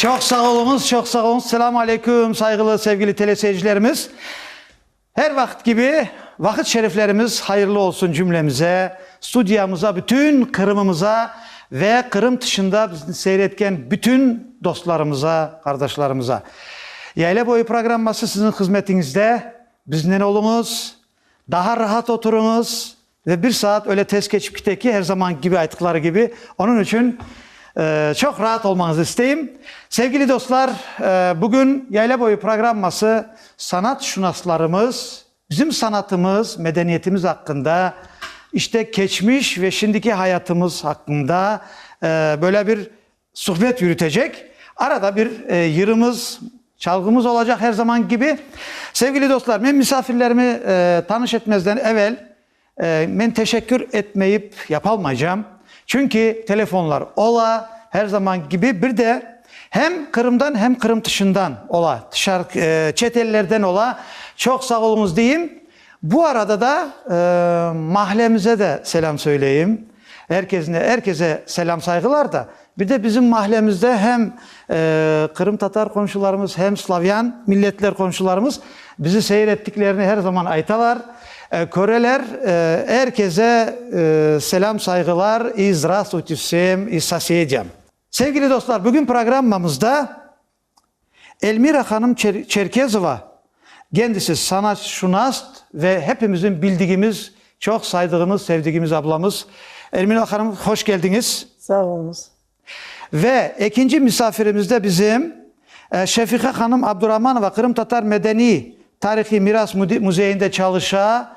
Çoq sağ oluñız, çoq sağ oluñız. Selam aleyküm, sayğılı, sevgili teleseyircilerimiz. Her vaqıt kibi, vaqıt şeriflerimiz hayırlı olsun cümlemize, studiyamıza, bütün Qırımımıza ve Qırım tışında bizni seyretken bütün dostlarımıza, qardaşlarımıza. Yayla boyu programması siziñ hızmetiñizde, biznen oluñız, daha rahat oturuñız, Ve bir saat öyle tez keçip kite ki, her zamanki kibi ayttıqları kibi, onıñ içün çoq raat olmañızı isteyim. Sevgili dostlar, bugün Yayla boyu programması sanatşunaslarımız bizim sanatımız, medeniyetimiz aqqında, işte keçmiş ve şimdiki hayatımız aqqında böyle bir Suhbet yürütecek, arada bir yırımız, çalğımız olacaq her zamanki kibi. Sevgili dostlar, men misafirlerimi tanış etmezden evel, men teşekkür etmeyip yapalmaycam. Çünki telefonlar ola, her zamanki kibi, bir de hem Qırımdan, hem Qırım tışından ola, çet ellerden ola. Çoq sağ oluñız deyim. Bu arada da mahallemize de selâm söyleyim. Er kesne, er kese selâm-sayğılar da. Bir de bizim mahallemizde hem qırımtatar qomşularımız, hem slavyan milletler qomşularımız bizi seyir ettiklerini her zaman aytalar, köreler. Er kese selâm-sayğılar, i zdravstvuyte vsem, i sosedam. Sevgili dostlar, bugün programmamızda Elmira hanım Çerkezova, kendisi sanatşunast ve hepimizniñ bildigimiz, çoq saydığımız, sevdigimiz ablamız. Elmira hanım, hoş keldiñiz. Sağ oluñız. Ve ekinci misafirimiz de bizim Şefiqa hanım Abduramanova, Qırımtatar medeniy tarihiy miras müzeyinde çalışa,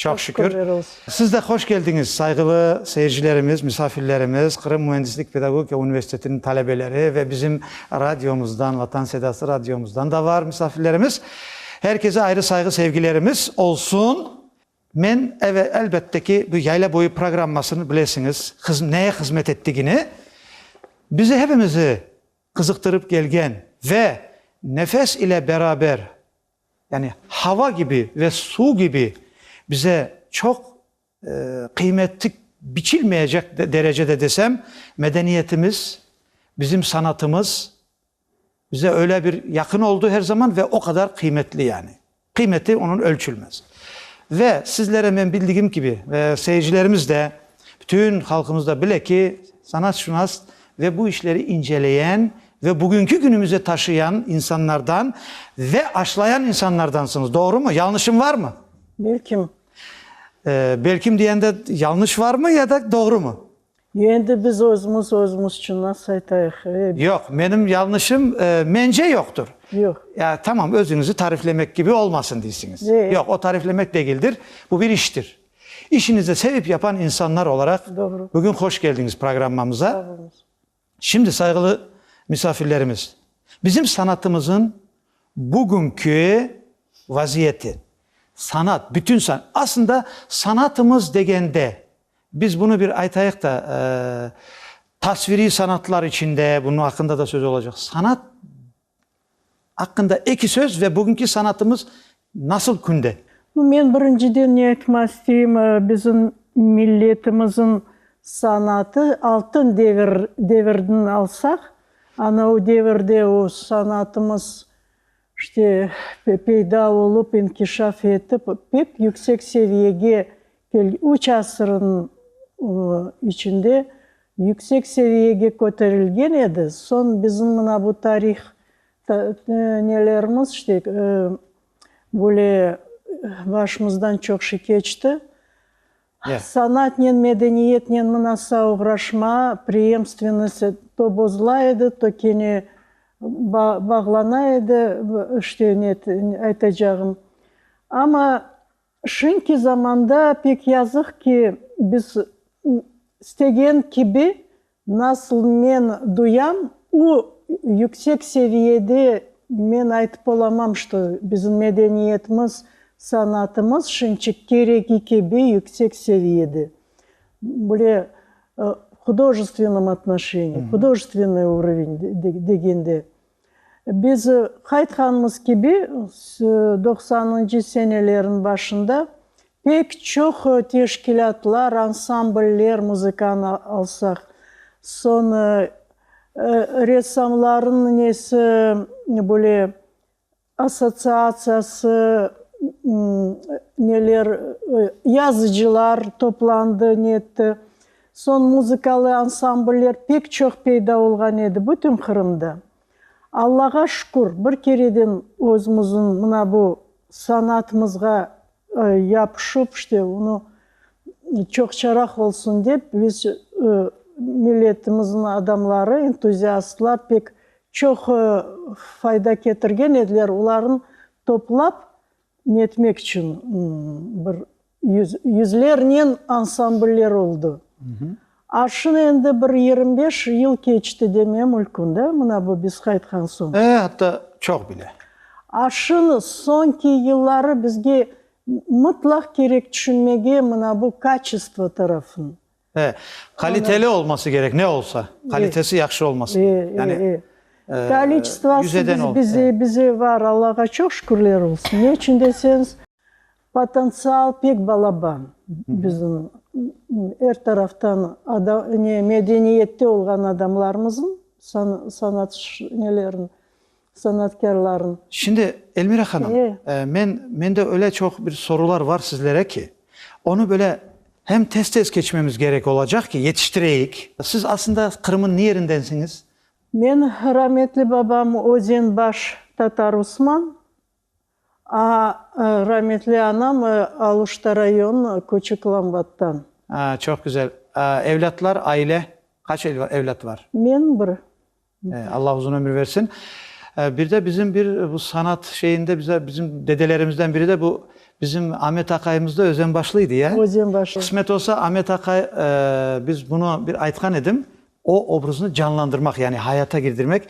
Çoq şükür. Siz de hoş keldiñiz, sayğılı seyircilerimiz, misafirlerimiz, Qırım müendislik pedagogika universitetiniñ talebeleri ve bizim radiomızdan, Vatan Sedası radiomızdan da var misafirlerimiz. Her keze ayrı sayğı sevgilerimiz olsun. Men, eve, elbette ki, bu Yayla boyu programmasını bilesiñiz, hız, neye hızmet ettigini. Bizi hepimizi qızıqtırıp kelgen ve nefes ile beraber, Yani hava kibi ve suv kibi bize çoq qıymetli, biçilmeyecek derecede desem, medeniyetimiz, bizim sanatımız bize öyle bir yaqın oldu her zaman ve o qadar qıymetli yani. Qıymeti onıñ ölçülmez. Ve sizlere men bildigim kibi, seyircilerimiz de Bütün halqımız da bile ki, sanatşunas ve bu işleri inceleyen ve bugünki günümüze taşıyan insanlardan ve aşlayan insanlardansıñız, doğrumı? Yalnışım varmı? Belkim. Belkim diyende yalnış varmı ya da doğrumı? Endi biz özümüz özümüz içün nasıl aytayıq? Yoq, menim yalnışım mence yoqtur. Yoq. Ya tamam, özüñizi tariflemek kibi olmasın deysiñiz. Yoq, o tariflemek degildir, bu bir iştir. İşinizni sevip yapan insanlar olaraq bugün hoş keldiñiz programmamıza. Şimdi sayğılı misafirlerimiz, bizim sanatımızın bugünki vaziyeti, sanat, bütün san, aslında sanatımız degende, biz bunı bir aytayıq da, tasviriy sanatlar içinde bunıñ aqqında da söz olacaq, sanat Aqqında eki söz ve bugünki sanatımız nasıl künde? No, men birinciden ne aytmaq isteyim, bizim milletimizin sanatı altın devir, devirdin alsaq, ana o devirde o sanatımız işte peyda olup, inkişaf etip, pek yüksek seviyege kel, üç asırın içinde Yüksek seviyege köterilgen edi. Soñ bizim mına bu tarih nelerimiz işte böyle başımızdan çoq şey keçti. Sanatnen, medeniyetnen mınasa oğraşma, preemstvennost to bozula edi, to kene bağlana edi, işte ne aytacağım. Amma Şimdki zamanda pek yazıq ki, biz istegen kibi nasıl men duyam, u yüksek seviyede men aytıp olamam, çto bizim medeniyetimiz, sanatımız şimdçe keregi kibi yüksek seviyede. Böyle hudojestvenım atnoşeniye, hudojestvennoy urovень degende. Biz qaytqanımız kibi, doqsanıncı senelerniñ başında pek çoq teşkilâtlar, ansambller muzıkanı alsaq, soñ ressamlarnıñ nesi böyle, Assotsiatsiyası neler, yazıcılar toplandı, ne etti. Soñ muzıkalı ansambller pek çoq peyda olğan edi bütün Qırımda. Allağa şükür, bir kereden özümizin mına bu sanatımızğa. yapışıp, işte, onı çoqçaraq olsun dep, biz, milletimiziñ adamları, entuziastlar pek çoq fayda ketirgen ediler, olarnı toplap netmek içün bir yüzlernen ansambller oldı. Arşın endi bir yirmi beş yıl keçti deme mülkün da, mına bu biz qaytqan soñ. E, atta çoq bile. Arşın soñki yılları bizge mıtlaq kerek tüşünmege mına bu kaçestvo tarafın. E, qaliteli olması kerek, ne olsa, qalitesi yahşı olması kerek. Yani, e, e, yüzeden ol. Kaliçtvası bize var, Allağa çoq şükürler olsun. Ne içün deseñiz. Potentsial pek balaba bizim er taraftan medeniyette olğan adamlarımızın, sanatçılarnın. Şimdi, Elmira hanım, mende öyle çoq bir sorular bar sizlere ki, onı böyle hem tez-tez keçmemiz gerek olacaq ki, yetiştireyik. Siz aslında Qırım'ın ne yerindensiñiz? Men, rahmetli babam Özenbaş Tatar Usman, A, Rametli anam Aluşta rayon, küçük Lambattan. A, Çoq güzel. A, Evlâtlar, aile, qaç evlât bar? Men bir. E, Alla uzun ömür bersin. E, bir de bizim bir bu sanat şeyinde bize bizim dedelerimizden biri de bu bizim Amet aqayımız da Özenbaşlıydı, ya? Özenbaşlı. Qısmet olsa Amet aqay, e, biz bunı bir aytqan edim, O obraznı canlandırmaq, yani hayata girdirmek.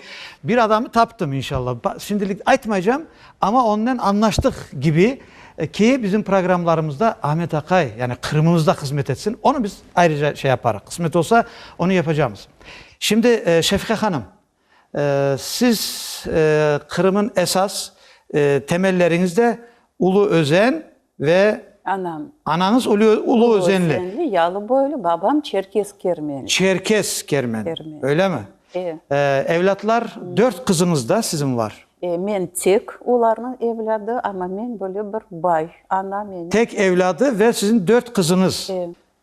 Bir adamı taptım, inşalla. Şimdilik aytmaycam, amma onnen añlaştıq kibi, ki, bizim programmlarımızda Ahmet aqay, yani Qırımımızda hızmet etsin. Onı biz ayrıca şey yaparıq. Qısmet olsa, onı yapacamız. Şimdi, Şefiqa hanım, Siz Qırım'ın esas temelleriñizde ulu özen ve anañız ulu özenli. Yalı boylu, babam Çerkes Kermeni. Çerkes Kermeni, öyle mi? Evlâtlar, dört qızıñız da siziñ var. Men tek olarnıñ evlâdı, amma men böyle bir bay, ana meni. Tek evlâdı ve siziñ dört qızıñız.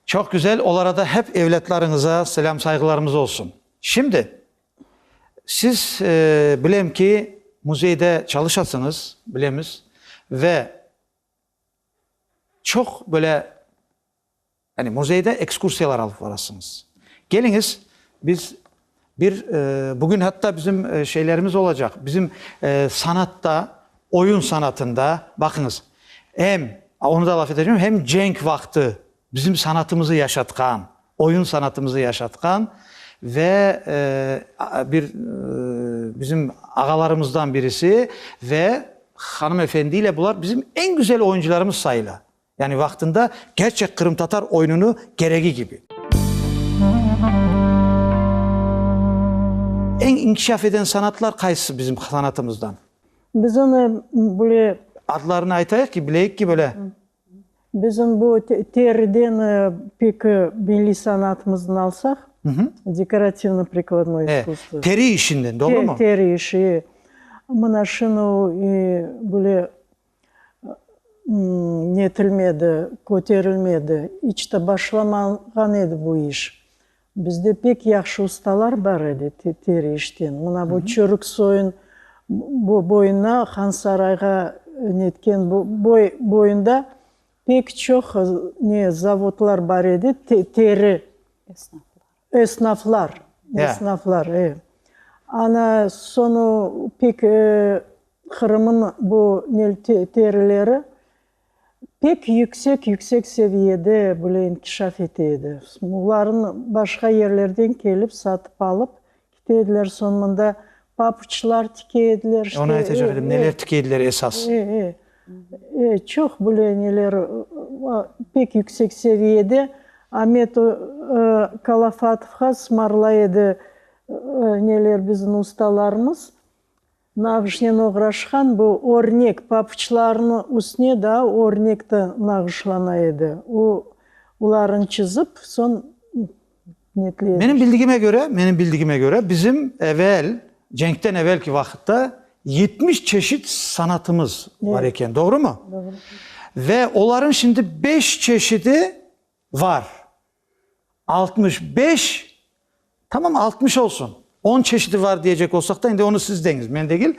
Çoq güzel, olarada hep evlâtlarıñıza selâm-sayğılarımız olsun. Şimdi, siz, bilem ki, müzeyde çalışasıñız, bilemiz, ve çoq böyle, yani müzeyde ekskursiyalar alıp varasıñız. Keliñiz, biz bir, bugün hatta bizim şeylerimiz olacaq, bizim sanatta, oyun sanatında, baqıñız, em, onu da laf eteceğim, em cenk vaqtı Bizim sanatımızı yaşatqan, oyun sanatımızı yaşatqan ve bir bizim ağalarımızdan birisi ve hanımefendiyle bular bizim eñ güzel oyuncılarımız sayıla. Yani vaqtında kerçek qırımtatar oyununu keregi kibi. Eñ inkişaf eden sanatlar qaysısı bizim sanatımızdan? Biz onı böyle. Adlarını aytayıq ki, bileyik ki böyle. Bizim bu teriden peki milliy sanatımızdan alsaq, dekorativno-prikladnoye iskusstvo. Teri işinden, doğrumı? Teri işi, e. Mına şunı böyle netilmedi, köterilmedi, iç te başlamağan edi bu iş. Bizde pek yahşı ustalar bar edi teri işten. Mına bu Çörük soyun boyuna, Han Sarayğa netken boy boyunda pek çoq ne zavodlar bar edi, teri esnaflar, esnaflar, e. Ana sonı pek Qırımnıñ bu terileri. Pek yüksek-yüksek seviyede bile inkişaf ete edi. Bunların başqa yerlerden kelip, satıp alıp kite ediler, soñ mında papuçlar tike ediler, işte. Onı aytacaq edim, neler tike ediler esas? E, e, e, çoq bile neler, pek yüksek seviyede Amet Kalafatovğa sımarlay edi neler bizim ustalarımız. Nağışnen oğraşqan bu örnek papuçlarnı üstüne daa örnek de nağışlana edi. O, olarını çizip, soñ netley edi. Menim bildigime köre, menim bildigime köre, bizim evel, cenkten evelki vaqıtta yetmiş çeşit sanatımız bar eken, doğrumı? Doğru. Ve oların şimdi beş çeşidi var. Altmış beş? Tamam, altmış olsun. On çeşidi var diyecek olsaq da, endi onı siz deñiz, men degil.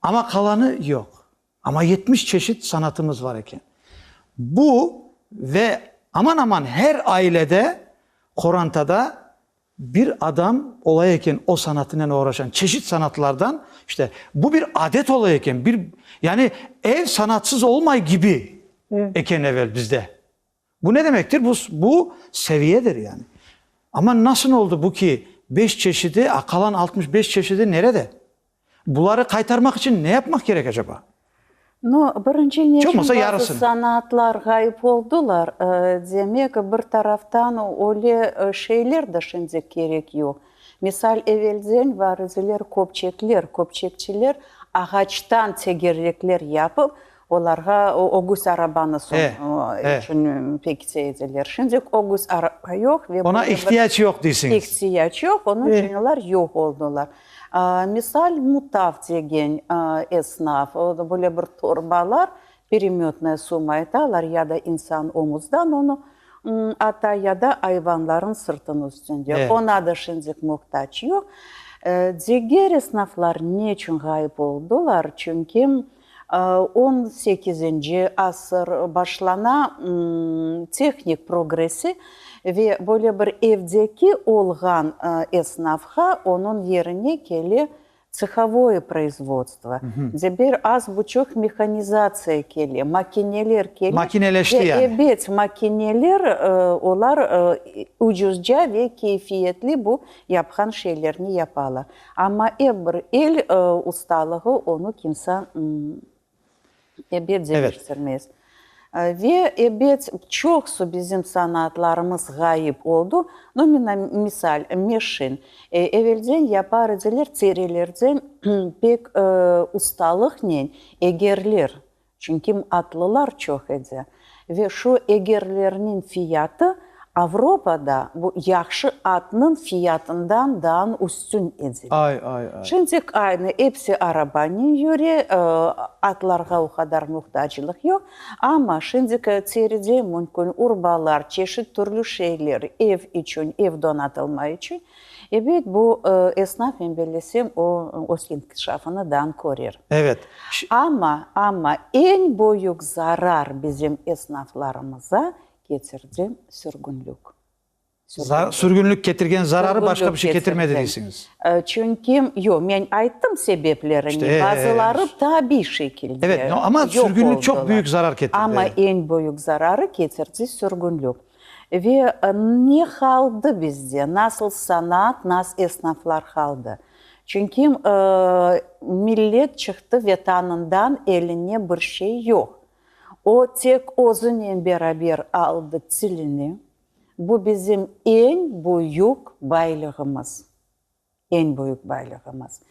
Amma qalanı, yoq. Amma yetmiş çeşit sanatımız var eken. Bu ve aman-aman her ailede, qorantada bir adam ola eken o sanatınen oğraşan, çeşit sanatlardan. İşte, bu bir adet ola eken, bir, yani ev sanatsız olmay kibi eken evel bizde. Bu ne demektir? Bu, bu seviyedir yani. Amma nasıl oldı bu ki, beş çeşidi, qalan altmış beş çeşidi nerede? Buları qaytarmaq içün ne yapmaq kerek acaba? No, birinci ne içün bazı sanaatlar ğayıp oldılar, demek, bir taraftan öyle şeyler de şimdi kerek yoq. Misal, evelden variziler, köpçekler, köpçekçiler ağaçtan tegerrekler yapıp, Olarğa ögüz arabanı soñu içün pekitse ediler. Şimdik ögüz araba yoq ve. Oña ihtiyac yoq deysiniz. İhtiyac yoq, onıñ içün olar yoq oldılar. Misal, Mutav degen esnaf, böyle bir torbalar, peremetnaya suma aytalar, ya da insan omuzdan onı ata, ya da ayvanlarnıñ sırtınıñ üstünde. Oña da şimdik muhtac yoq. Diger esnaflar ne içün ğayıp oldılar? Çünki. On sekizinci asır başlana, tehnik progressi ve böyle bir evdeki olğan esnafğa onıñ yerine kele tsıhovoye proizvodstvo, de bir az buçuq mehanizatsiya kele, makineler kele. Makineleşti yani. Ebet, makineler, olar ucuzca ve keyfiyetli bu yapqan şeylerni yapalar. Amma ep bir el ustalığı onı kimsa ebet deñiştirmez. Ve ebet çoqsu bizim sanaatlarımız ğayıp oldu. No, mına, misal, meşin. Evelden yapar ediler, terilerden pek ustalıqnen egerler Çünkim atlılar çoq edi ve şu egerlerniñ fiyatı Avropada bu yahşı atnıñ fiyatından daan üstün edi. Ay, ay, ay! Şimdik aynı, epsi arabanen yüre, atlarğa o qadar muhtaclıq yoq. Amma şimdiki teride mümkün urbalar, çeşit türlü şeyler, ev içün, ev donatılma içün Ebet, bu esnafnen bellesem, o, öz inkişafını dan körer. Evet. Amma, amma eñ büyük zarar bizim esnaflarımıza ketirdi sürgünlik. Sürgünlik ketirgen zararı başqa bir şey ketirmedi deysiniz. Çünki, yoq, men ayttım sebeplerini, bazıları tabiy şekilde. Evet, amma sürgünlik çoq büyük zarar ketirdi. Amma eñ büyük zararı ketirdi sürgünlik. Ve ne qaldı bizde? Nasıl sanaat, nas esnaflar qaldı? Çünki millet çıqtı ve tanından eline bir şey yoq. O tek özünen beraber aldı tilini. Bu bizim eñ büyük baylığımız. Eñ büyük baylığımız.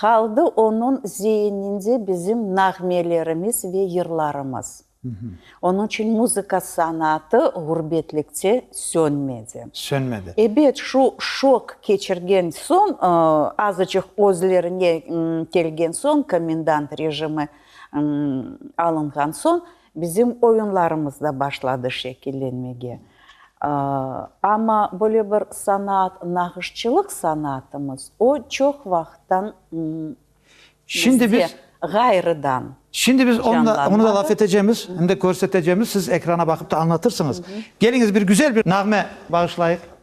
Qaldı onıñ zeyninde bizim nağmelerimiz ve yırlarımız. Onıñ içün muzıka sanatı ğurbetlikte sönmedi. Sönmedi. Ebet, şu şok keçirgen soñ, azıcıq özlerine kelgen soñ, komendant rejimi alınğan soñ, Bizim oyunlarımız da başladı şekillenmege. Amma böyle bir sanaat, nağışçılıq sanaatımız, o çoq vaqıttan bizde ğayrıdan canlanmadı. Onı da laf etecemiz, şimdi körsetecemiz, siz ekrana baqıp da añlatırsıñız. Keliñiz, bir güzel bir nağme bağışlayıq.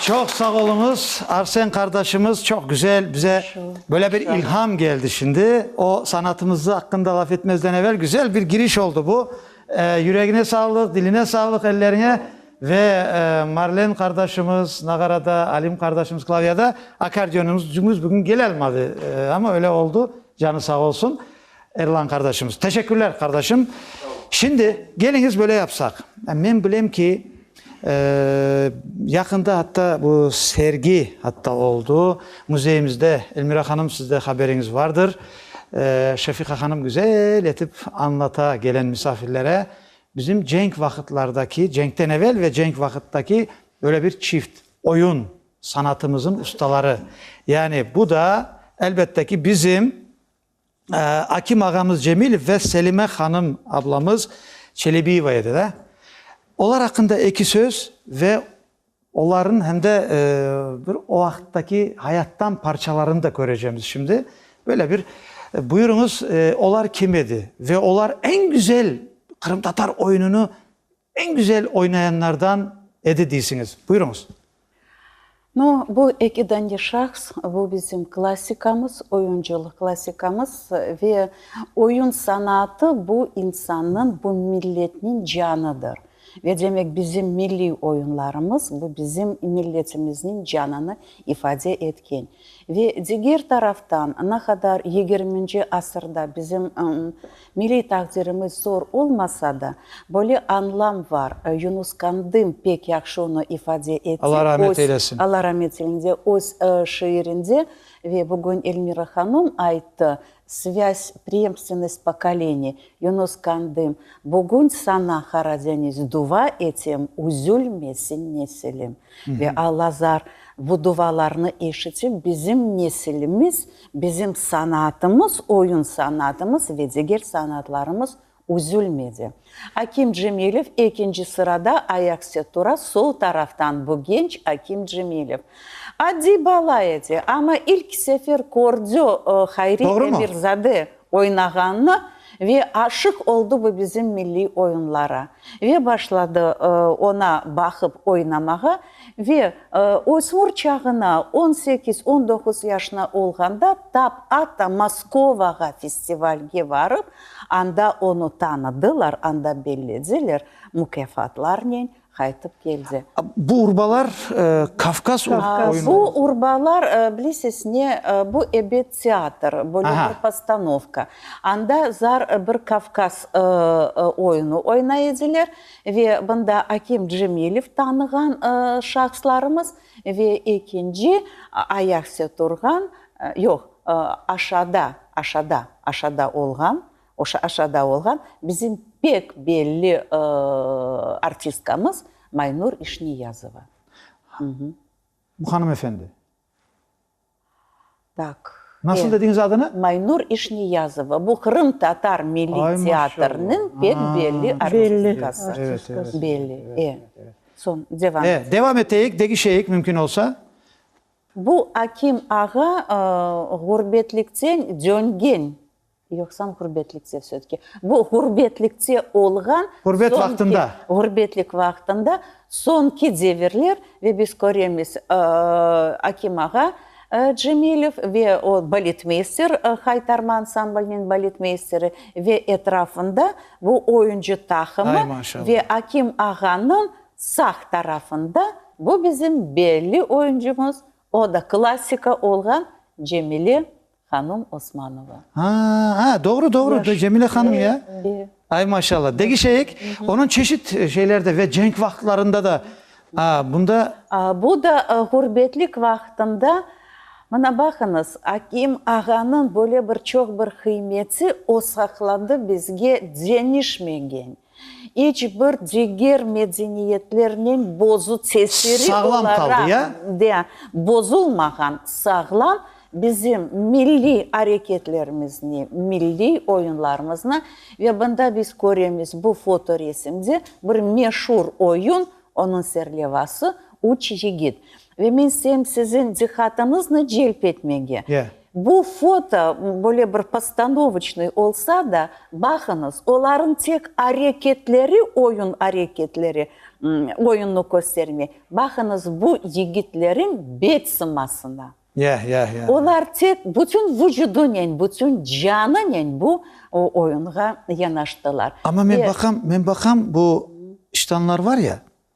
Çoq sağ oluñız, Arsen qardaşımız, çoq güzel, bize böyle bir ilham geldi şimdi. O sanatımızı aqqında laf etmezden evel güzel bir giriş oldu bu. Yüregine sağlıq, diline sağlıq, elleriñe ve Marlen qardaşımız nağarada, Alim qardaşımız klavyada, akkardeonımız bugün gele almadı, amma öyle oldu, canı sağ olsun. Erlan qardaşımız. Teşekkürler, qardaşım. Şimdi, keliñiz böyle yapsaq. Men bilem ki, yaqında atta bu sergi atta oldu müzeyimizde. Elmira hanım, siz de haberiñiz vardır. Şefiqa hanım güzel etip añlata kelen misafirlere bizim cenk vaqıtlardaki, cenkten evel ve cenk vaqıttaki böyle bir çift, oyun sanatımızın ustaları. Yani bu da, elbette ki, bizim Akim ağamız Cemilev ve Selime hanım ablamız Çelebiyeva edi da. Olar aqqında eki söz ve olarnıñ hem de bir o vaqıttaki hayattan parçalarını da körecemiz şimdi. Böyle bir buyurıñız, olar kim edi ve olar eñ güzel qırımtatar oyunını Eñ güzel oynayanlardan edi deysiñiz. Buyurıñız. No, bu eki dane şahs, bu bizim klassikamız, oyuncılıq klassikamız ve oyun sanaatı bu insannıñ, bu milletniñ canıdır. Ve demek, bizim milliy oyunlarımız bu bizim milletimizniñ canını ifade etken. Ve diger taraftan, ne qadar yigirminci asırda bizim Milliy taqdirimiz zor olmasa da, böyle añlam var. Yunus Kandım pek yahşı onı ifade ete. Alla rahmet eylesin. Alla rahmet eylesin. Öz şiirinde ve bugün Elmira hanım ayttı, Svâz, preemstvennost pokoleniy. Yunus Kandım, bugün sana Qaradeniz dua etem, üzülmesin nesilim. Ve Alla zar bu duvalarnı eşitip, bizim nesilimiz Bizim sanaatımız, oyun sanaatımız ve diger sanaatlarımız üzülmedi. Akim Cemilev, ekinci sırada ayaküstü tura, sol taraftan bu genç Akim Cemilev. Adiy bala edi, amma ilk sefer kördi Hayri Emirzade. oynağanını ve aşıq oldı bu bizim milliy oyunlara ve başladı ona baqıp oynamağa ve ösmür çağına on sekiz, on doquz yaşına olğanda tap atta Moskovağa festivalge barıp anda onu tanıdılar, anda bellediler, mukâfatlarnen Qaytıp keldi. Bu urbalar Kavkaz oyunları. Bu urbalar, bilesiz, ne, bu ebet teatr, böyle bir postanovka. Anda zar bir Kavkaz oyunu oynay ediler ve bunda Akim Cemilev tanığan şahıslarımız ve ekinci ayaqüste turğan, yoq, aşağıda, aşağıda, aşağıda olğan Oşa aşağıda olğan bizim pek belli artistkamız Maynur İşniyazova. Bu hanım efendi. Tak. Nasıl dediñiz adını? Maynur İşniyazova. Bu Qırım Tatar Milliy Teatrınıñ pek belli artistkası. Belli. E. Soñ devam. E, devam eteyik, degişeyik mümkün olsa. Bu Akim ağa ğurbetlikten döngen Yoqsam ğurbetlikte sötke. Bu ğurbetlikte olğan. Ğurbet vaqtında. Ğurbetlik vaqtında soñki devirler ve biz köremiz Akim ağa Cemilev ve o baletmeyster Haytarma ansambliniñ baletmeysteri ve etrafında bu oyuncı taqımı ve Akim ağanıñ sağ tarafında bu bizim belli oyuncumız o da klassika olğan Cemile Hanım Osmanova. Ha, ha, doğru, doğru, Cemile hanım ya. Ay, maşallah. Degişeyik, onıñ çeşit şeylerde ve cenk vaqıtlarında da bunda. Bu da ğurbetlik vaqıtında, mına baqıñız, Akim ağanıñ böyle bir çoq bir qıymeti o saqladı bizge, cenişmegen. İç bir diger medeniyetlernen bozu tesiri olaraq bozulmağan sağlam bizim milliy areketlerimizni, milliy oyunlarımıznı ve bunda biz köremiz bu foto resimde bir meşur oyun, onıñ serlevası, Üç yigit. Ve men sem siziñ diqqatıñıznı celp etmege, bu foto böyle bir postanovıçnıy olsa da, baqıñız, olarıñ tek areketleri oyun areketleri, oyunnı köstermey. Baqıñız bu yigitleriñ bet sımasına. Olar tek bütün vucudunen, bütün canınen bu oyunğa yanaştılar. Amma men baqam, men baqam, bu ştanlar var ya,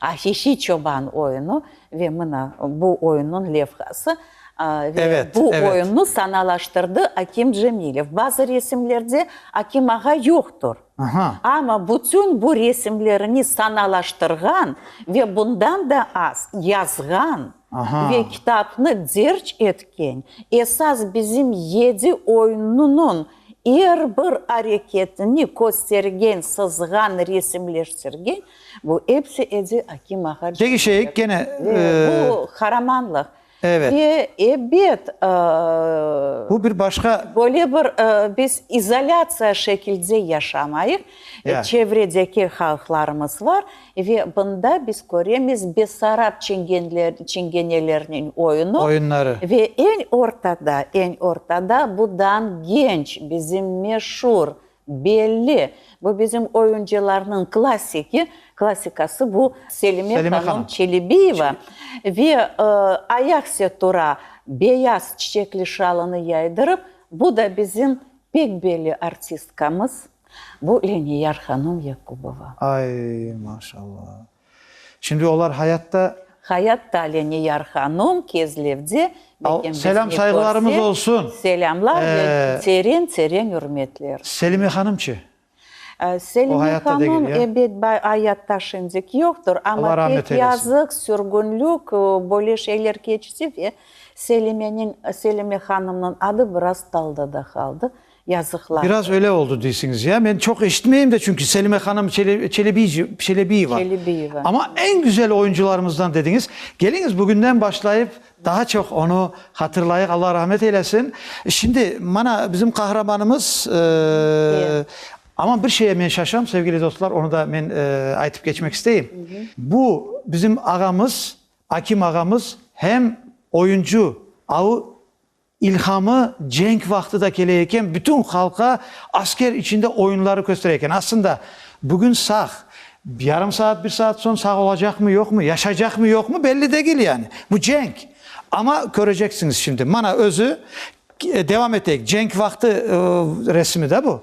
Afifi çoban oyunu ve mına bu oyunnıñ levhası ve bu oyunnı sanalaştırdı Akim Cemilev. Bazı resimlerde Akim ağa yoqtur, amma bütün bu resimlerini sanalaştırğan ve bundan da az yazğan ve kitapnı derc etken, esas bizim yedi oyunnınıñ er bir areketini köstergen, sızğan, resimleştirgen Bu epsi edi Akim ağa Peki şey Cemilov gene ve bu eee, qaramanlıq. evet, Ve ebet, bu bir ııı, başqa böyle bir ııı, biz izolâtsiya şekilde yaşamayıq, Ya. çevredeki halqlarımız var ve bunda biz köremiz Bessarab çingenler, çingenelerniñ oyunu oyunları. ve eñ ortada, eñ ortada budan genç bizim meşur Belli, bu bizim oyuncılarnıñ klassiki, klassikası bu Selime hanım Çelebiyeva ve ayakse tura beyaz çiçekli şalını yaydırıp, bu da bizim pek belli artistkamız, bu Leniyar hanım Yakubova. Ay, maşallah! Şimdi olar hayatta. Hayatta Alene Yar hanum Kezlevde. Al, selam sayğılarımız olsun. Selamlar ve teren teren ürmetler. Selime hanım çı? Selime hanım ebet ayatta şimdik yoqtır, amma pek yazıq, sürgünlük, böyle şeyler keçti ve Selimeniñ, Selime hanımnıñ adı biraz talda da qaldı. Yazıqlar. Biraz öyle oldı deysiñiz ya. Men çoq eşitmeyim de çünki Selime hanım Çelebiyeva. Çelebiyeva. Amma eñ güzel oyuncularımızdan dediñiz. Keliñiz bugünden başlayıp daha çoq onı hatırlayıq. Allah rahmet eylesin. Şimdi mana bizim qahramanımız amma bir şeye men şaşam sevgili dostlar, onı da men aytıp keçmek isteyim. Bu bizim ağamız, Akim ağamız hem oyuncu, avu. İlhamı cenk vaqtı da kele eken, bütün halqa asker içinde oyunları köstere eken. Aslında, bugün sağ, yarım saat, bir saat soñ sağ olacaqmı, yoqmı, yaşaycaqmı, yoqmı, belli degil yani. Bu cenk. Amma köreceksiñiz şimdi. Mana özü, devam eteyik, cenk vaqtı resimi da bu.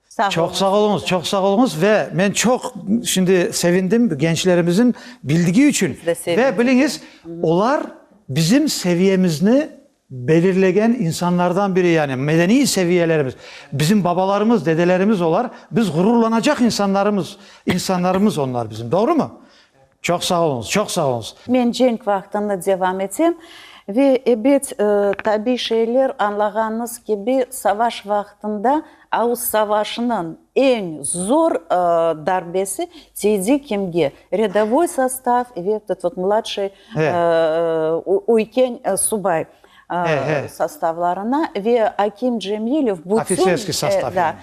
Çoq sağ oluñız, çoq sağ oluñız ve men çoq şimdi sevindim gençlerimizin bildigi içün ve biliñiz, olar bizim seviyemizni belirlegen insanlardan biri, yani medeniy seviyelerimiz, bizim babalarımız, dedelerimiz olar, biz ğururlanacaq insanlarımız, insanlarımız onlar bizim, doğrumu? Çoq sağ oluñız, çoq sağ oluñız. Men cenk vaqtını devam etem. Ve ebet, tabiy şeyler, añlağanıñız kibi, savaş vaqtında avuz savaşınıñ eñ zor darbesi tiydi kimge? Redovoy sostav ve tut mladşıy üyken subay. sostavlarına ve Akim Cemilev bütün, Ofitserskiy sostav yani.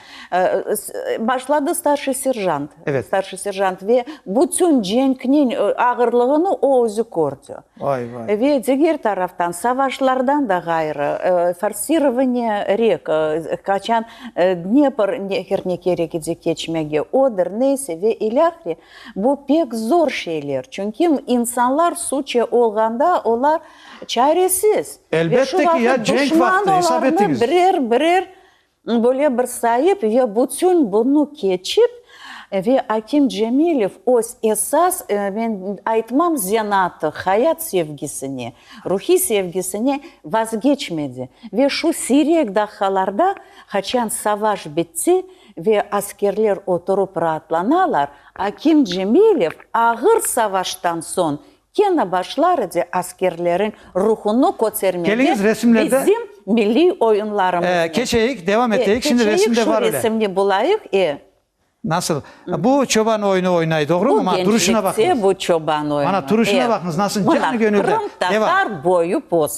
Başladı starşiy serjant. Evet. Starşiy serjant ve bütün cenkniñ ağırlığını o özü kördi. Vay, vay. Ve diger taraftan, savaşlardan da ğayrı, forsirovanniye rek, qaçan Dnepr nehrine kerek edi keçmege, Oder, Nese ve ilâhre, Bu pek zor şeyler, çünki insanlar suçe olğanda olar çaresiz. Ve şu vaqıt duşman olarnı birer birer böyle bir sayıp ve bütün bunı keçip ve Akim Cemilev öz esas, men aytmam zenatı, hayat sevgisine, ruhiy sevgisine vazgeçmedi. Ve şu siyrek daqalarda, qaçan savaş bitti, Ve askerler oturıp raatlanalar, akim Cemilev ağır savaştan soñ kene başlar edi askerleriñ ruhunı kötermege bizim milliy oyunlarımıznı. E, keçeyik, devam eteyik, şimdi resimde var öyle. Keçeyik, şu resimni bulayıq, e. Nasıl? Bu çoban oyunu oynay, doğrumu? Bu gençlikte bu çoban oyunu. Mana turuşuna baqıñız, nasıl canı gönülden. Qırımtatar boyu postu.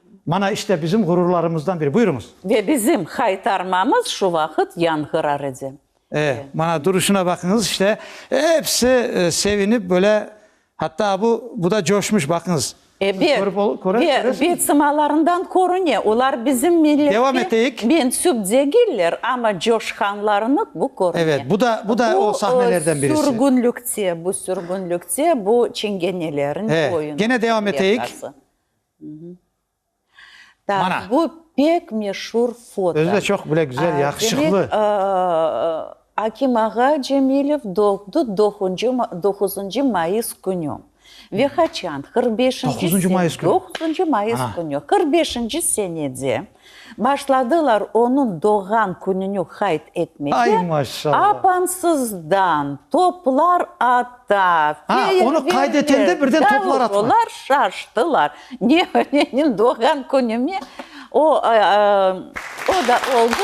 Mana işte bizim ğururlarımızdan biri. Buyurıñız. Ve bizim haytarmamız şu vaqıt yanğırar edi. E, mana duruşına baqıñız işte. Episi sevinip böyle, hatta bu, bu da coşmuş, baqıñız. Ebet, körüp ol, köre, ve, köresiñiz. ve sımalarından körüne, olar bizim milletke Devam eteyik. mensüp degiller, amma coşqanlarını bu körüne. Evet, bu da, bu da o sahnelerden birisi. Sürgünlükte, bu sürgünlükte, bu çingenelerin E, oyunu. gene devam eteyik. Mana. Bu pek meşur foto. Özü de çoq bile güzel, yaqışıqlı. Demek, Akim ağa Cemilev doğdı doquzıncı mayıs künü. Ve qaçan? Qırq beşinci. Doquzıncı mayıs künü. Doquzıncı mayıs künü. Qırq beşinci senede Başladılar onıñ doğğan kününi qayd etmege, apansızdan toplar ata, feyerverkler, davullar şaştılar, Neveneniñ doğğan künümi? O da oldı.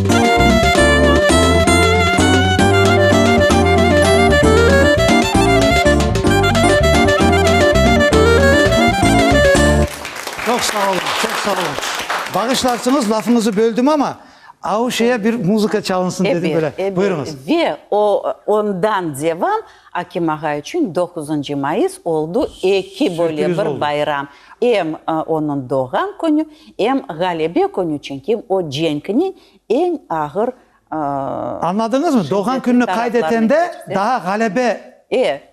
Çoq sağ olun, çoq sağ olun. Bağışlarsıñız, lafıñızı böldim, amma Auşe'ye bir muzıka çalınsın dedim böyle. Elbet, elbet. Buyurıñız. Ve o, ondan devam, Akim ağa içün doquzıncı mayıs oldu, eki böyle bir bayram. Sürpriz oldu. Em onıñ doğğan künü, em ğalebe künü, çünki o cenkniñ eñ ağır Añladıñızmı? Doğğan kününi qayd etende daa ğalebe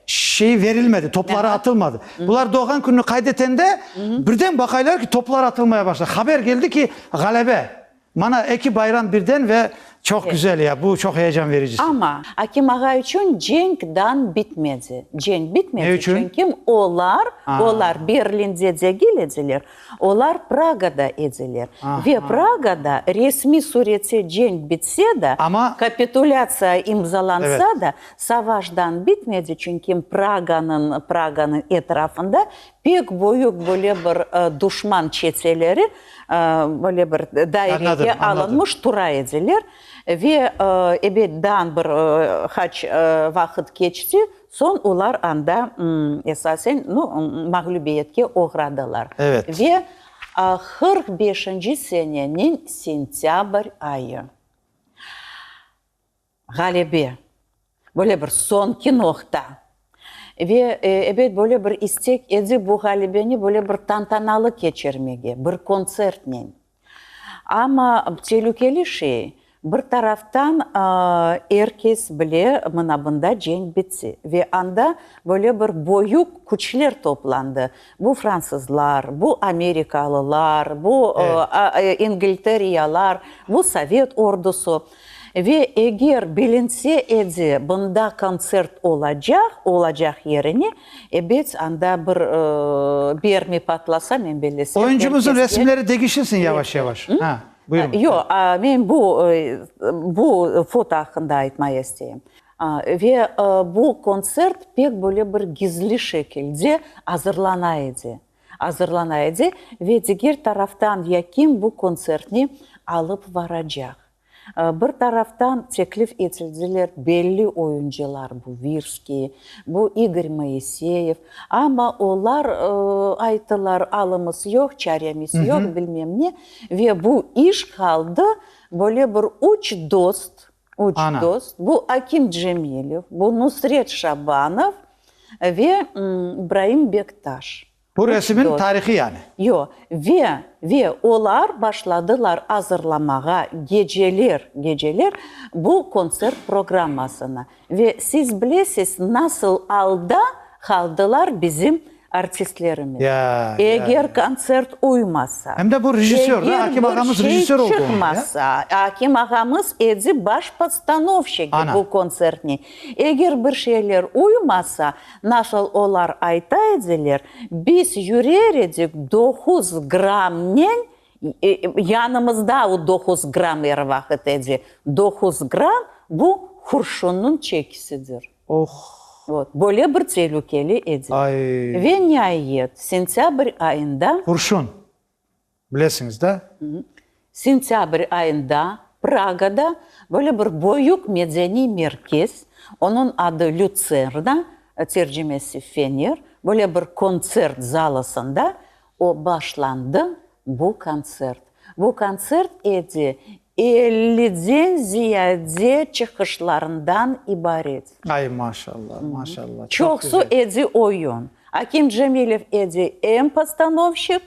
şeyi verilmedi, topları atılmadı. Bular doğğan kününi qayd etende, birden baqaylar ki, toplar atılmaya başladı. Haber keldi ki, ğalebe. Mana, eki bayram birden ve çoq güzel ya, bu çoq heyecan vericisi. Amma, akim ağa içün cenk dan bitmedi. Cenk bitmedi. Ne içün? Çünki olar, olar Berlinde degil ediler, olar Pragada ediler. Ve Pragada resmiy surette cenk bitse de, kapitulâtsiya imzalansa da, savaş dan bitmedi, çünki Praganıñ, Praganıñ etrafında Pek büyük böyle bir duşman çeteleri böyle bir dairege alınmış tura ediler ve ebet dan bir qaç vaqıt keçti, soñ olar anda esasen mağlübiyetke oğradılar ve qırq beşinci seneniñ sentâbr ayı. Ğalebe, böyle bir soñki noqta. Ve, ebet, böyle bir istek edi bu ğalebeni böyle bir tantanalı keçirmege, bir kontsertnen. Amma telükeli şey, bir taraftan, er kes bile, mına bunda cenk bitse. Ve anda böyle bir böyük küçler toplandı. Bu fransızlar, bu amerikalılar, bu ingilteriyalar, bu sovet ordusı. Ve eger bilinse edi, bunda kontsert olacaq, olacaq yerine, ebet, anda bir bermi patlasa, men bellesem, herkesge. Oyuncumızın resimleri degişilsin yavaş-yavaş. Ha, buyurıñ. Yo, men bu, bu foto aqqında aytmaya isteyim. Ve bu kontsert pek böyle bir gizli şekilde azırlana edi. azırlana edi ve diger taraftan ya kim bu kontsertni alıp varacaq. Bir taraftan teklif etildiler belli oyuncılar, bu Virskiy, bu İgor Moiseyev, amma olar ayttılar, alımız yoq, çaremiz yoq, bilmem ne, ve bu iş qaldı böyle bir üç dost Üç dost, bu Akim Cemilev, bu Nusret Şabanov ve İbraim Bektaş. Bu resimniñ tarihi yani. Yo, ve, ve olar başladılar azırlamağa geceler, geceler bu kontsert programmasını. Ve siz bilesiz, nasıl alda qaldılar bizim artistlerimiz, eger kontsert uymasa, eger bir şey çıqmasa, akim ağamız edi baş podstanovşiki bu kontsertni, eger bir şeyler uymasa, nasıl olar ayta ediler, biz yürer edik doquz grammnen, yanımızda o doquz gramm er vaqıt edi, doquz gramm, bu qurşunniñ çekisidir. Oh! Vot, böyle bir telükeli edi. Ay! Ve niayet, sentâbr ayında. Qurşun! Bilesiñiz da? Sentâbr ayında Pragada böyle bir büyük medeniy merkez, onıñ adı Lütserna, tercimesi Fener, böyle bir kontsert zalısında o başlandı, bu kontsert. Bu kontsert edi Elliden ziyade çıqışlarından ibaret. Ay, maşalla, maşalla, çoq güzel. Çoqsu edi oyun. Akim Cemilev edi em postanovşik,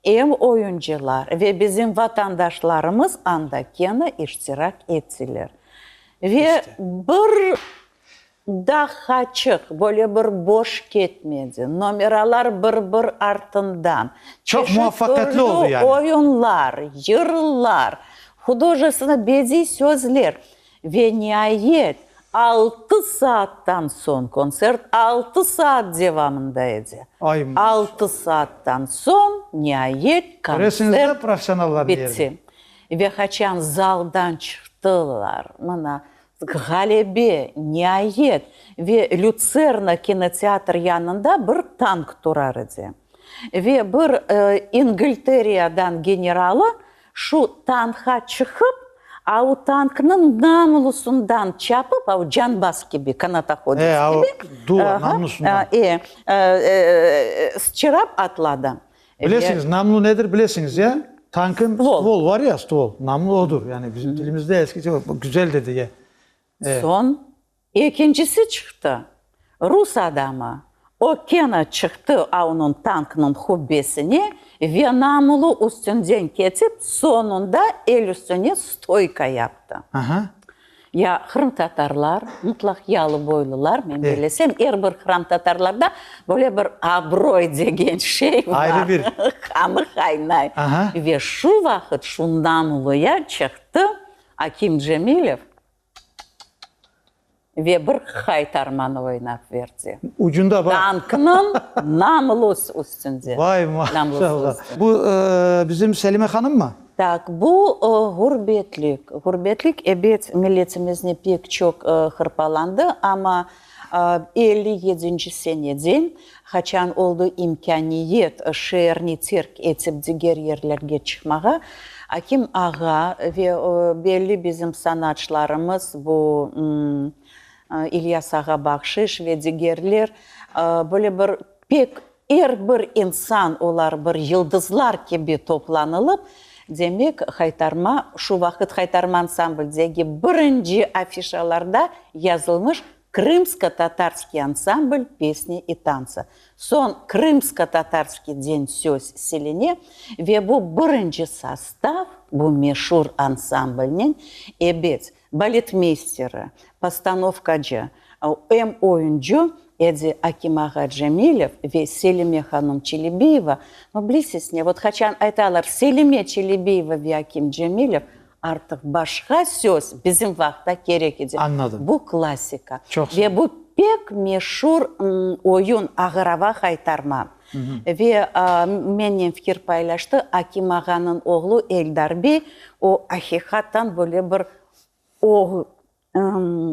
em oyuncılar ve bizim vatandaşlarımız anda kene iştirak ettiler. Ve bir Daha çıq, böyle bir boş ketmedi. Nomeralar bir-bir artından, çeşit türlü oyunlar, yırlar, hudojestenno bediy sözler. Ve niayet, altı saattan soñ, kontsert altı saat devamında edi, altı saattan soñ niayet kontsert bitti. Ve haçan zaldan çıqtılar, mına, Ğalebe, niayet, ve Lütserna kinoteatr yanında bir tank turar edi. Ve bir İngiltereadan generalı şu tankğa çıqıp, au tanknıñ namlusundan çapıp, au canbaz kibi, kanatahodec kibi, aha, e, sıçrap atladı. Bilesiñiz, namlu nedir, bilesiñiz, ya? Tankın stvol var ya, stvol, namlu odur. Yani bizim dilimizde eskice güzel de diye. Soñ ekincisi çıqtı, rus adamı. O kene çıqtı aunıñ tanknıñ hubbesine ve namlu üstünden ketip, soñunda el üstüne stoyka yaptı. Ya qırımtatarlar, mıtlaq yalı boylular, men böyle sem, er bir qıramtatarlarda böyle bir abroy degen şey bar. Ayrı bir. Qanı qaynay. Aha. Ve şu vaqıt şundan uluya çıqtı Akim Cemilev ve bir qaytarmanı oynap verdi. Ucunda bar. Tanknıñ namlus üstünde. Vay, maşallah. Bu bizim Selime hanımmı? Taq, bu ğurbetlik. Ğurbetlik, ebet, milletimizni pek çoq hırpalandı, amma elli yedinci seneden, qaçan oldı imkâniyet şeerni terk etip diger yerlerge çıqmağa, Akim ağa ve belli bizim sanatçılarımız, bu İlyas ağa Bahşış ve digerler, böyle bir pek Er bir insan olar bir yıldızlar kibi toplanılıp, demek, Haytarma, şu vaqıt Haytarma ansambl'degi birinci afişalarda yazılmış Krımsko-Tatarskiy ansambl pesni i tansı. Soñ Krımsko-Tatarskiy den söz siline ve bu birinci sastav bu meşur ansamblnen ebet, Baletmeysteri, postanovkacı, em oyuncı edi Akim-ağa Cemilev ve Selime hanım Çelebiyeva. No, bilesiz ne, vot qaçan aytalar, Selime Çelebiyeva ve Akim Cemilev, artıq başqa söz bizim vaqıtta kerek edi. Añladım. Bu klassika. Çoq sağ ol. Ve bu pek meşur oyun, Ağırava haytarma. Ve mennen fikir paylaştı Akim ağanıñ oğlu Eldar bey, o, aqiqaten böyle bir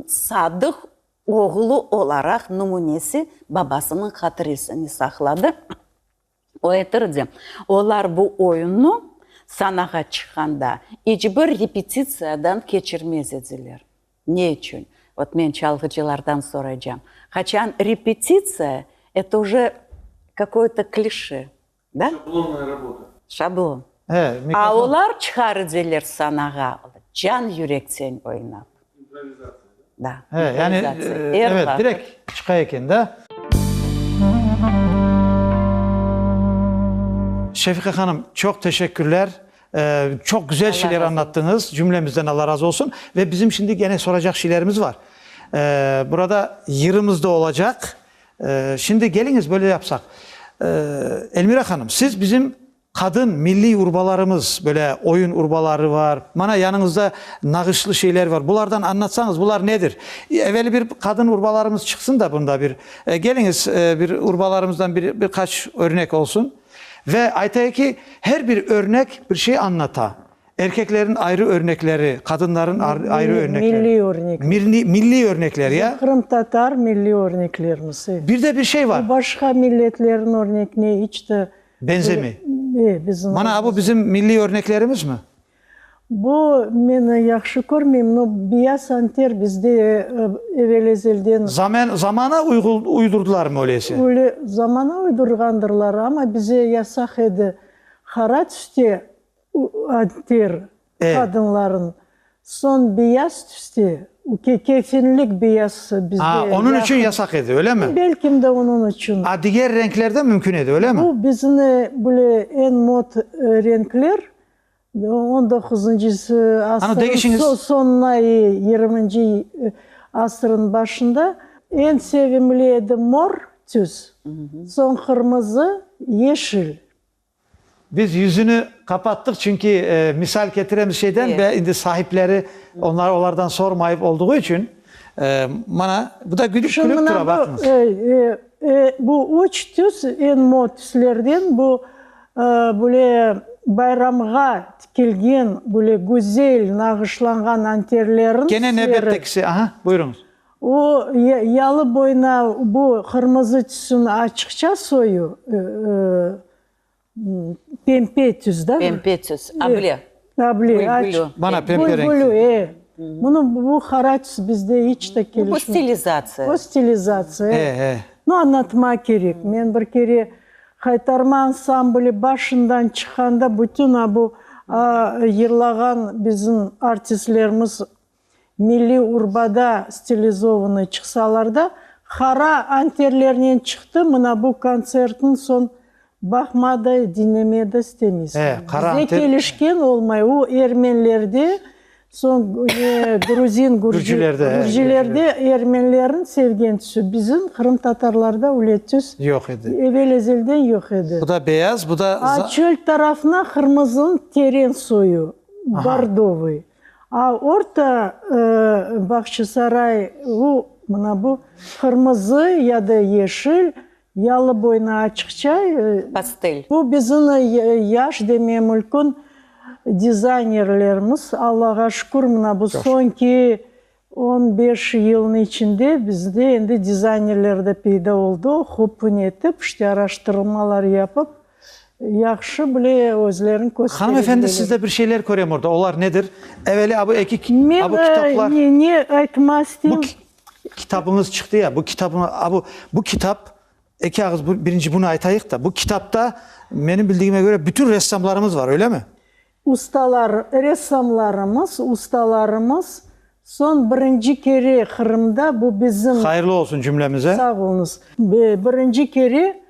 sadıq oğlu olaraq numunesi, babasınıñ hatiresini saqladı. O etirdi, olar bu oyunnı sanağa çıqqanda iç bir repetitsiyadan keçirmez ediler. Ne içün? Vot men çalğıcılardan soraycam. Qaçan repetitsiya, eto uje kakoyto klişe, da? Şablonnaya rabota. Şablon. A olar çıqar ediler sanağa, can-yürekten oynap. İmprovizatsiya, da? Da, improvizatsiya. Er vaqıt. Evet, direkt çıqa eken, da? Şefiqa hanım, çoq teşekkürler. Çoq güzel şeyler añlattıñız, cümlemizden Alla razı olsun. Ve bizim şimdi gene soracaq şeylerimiz bar. Burada yırımız da olacaq. Şimdi keliñiz, böyle yapsaq. Elmira hanım, siz bizim qadın milliy urbalarımız, böyle oyun urbaları bar, mana yanıñızda nağışlı şeyler bar. Bulardan añlatsañız, bular nedir? Eveli bir qadın urbalarımız çıqsın da bunda bir. Keliñiz, bir urbalarımızdan bir qaç örnek olsun. Ve aytay ki, her bir örnek bir şey añlata. Erkeklerin ayrı örnekleri, qadınların ayrı örnekleri. Milliy örnekler. Mirli, milliy örnekler, ya. Qırımtatar milliy örneklerimiz, e. Bir de bir şey var. Bu başqa milletlerin örnekine iç de. Benzemey. E, bizim. Mana bu bizim milliy örneklerimizmi? Bu meni yahşı körmeyim, no biya santer bizde evel-ezelden. Zamen, zamana uygul, uydurdılarmı öleyse? Öyle, zamana uydurğandırlar, ama bize yasaq edi qara tüste anter E. qadınların, soñ biyaz tüste, uke, kefenlik biyazsı bizde Aa, yahı. onıñ içün yasaq edi, öylemi? Belkim de onıñ içün. A diger renkler de mümkün edi, öylemi? Bu bizni, böyle, eñ mod renkler. On doquzıncısı asırın soñuna e yirminci asırın başında eñ sevimli edi mor tüs, soñ qırmızı, yeşil. Biz yüzüni qapattıq, çünki misal ketiremiz şeyden ve indi sahipleri onları olardan sormayıp olduğu içün, mana, bu da gülüp gülüp tura, baqıñız. Bu üç tüs eñ mor tüslerden, bu Böyle bayramğa tikilgen, böyle güzel nağışlanğan anterlerin seri. Kene nevbettekisi, aha, buyuruñız. O yalı boyuna bu qırmızı tüsüni açıqça soyu, pempe tüs, da? Pempe tüs, able. Tabli, aç. Bana pembe renkli. Bülbülü, e. Bunı, bu haraç bizde iç de kelişmey. Bu stilizatsiya. Bu stilizatsiya, e. E, e. No, anlatmaq kerek. Men bir kere Haytarma ansambli başından çıqqanda bütün a bu yırlağan bizim artistlerimiz Milliy urbada stilizovnıy çıqsalar da, hara anterlernen çıqtı, mına bu kontsertniñ soñ baqma da, diñleme da istemeysiñ. Bize kelişken olmay, o ermenlerde, soñ gruzin, gürcilerde ermenlerniñ sevgen tüsü, bizim qırımtatarlarda öyle tüs evel-ezelden yoq edi. Bu da beyaz, bu da. A çöl tarafına qırmızınıñ teren soyu, bordovıy. A Orta Bağçasaray, u, mına bu, qırmızı ya da yeşil, yalı boyuna açıqça, Pastel. Bu bizniñ yaş demeye mülkün dizaynerlerimiz, Allağa şükür, mına bu soñki On beş yılnıñ içinde bizde endi dizaynerler de peyda oldı, hopun etip, işte araştırılmalar yapıp, yahşı bile özlerini kösterebilirler. Hanım efendi, siz de bir şeyler körem orda, olar nedir? Eveli a bu eki, a bu kitaplar. Men ne aytmaq isteyim. Bu kitabıñız çıqtı ya, bu kitabı, a bu, bu kitap, eki ağız birinci bunı aytayıq da, bu kitapta, menim bildigime köre, bütün ressamlarımız var, öyle mi? Ustalar, ressamlarımız, ustalarımız soñ birinci kere Qırımda, bu bizim. Hayırlı olsun cümlemize. Sağ oluñız. Birinci kere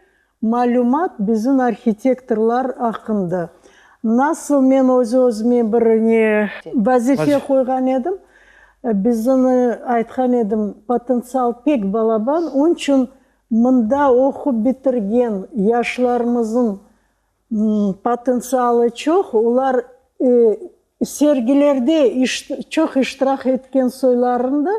malümat bizim arhitektorlar aqqında. Nasıl men öz-özüme bir ne vazife qoyğan edim, bizim aytqan edim, potentsial pek balaban, onıñ içün mında oqup bitirgen yaşlarımızın Potentsialı çoq, olar sergilerde çoq iştirak etken soylarını da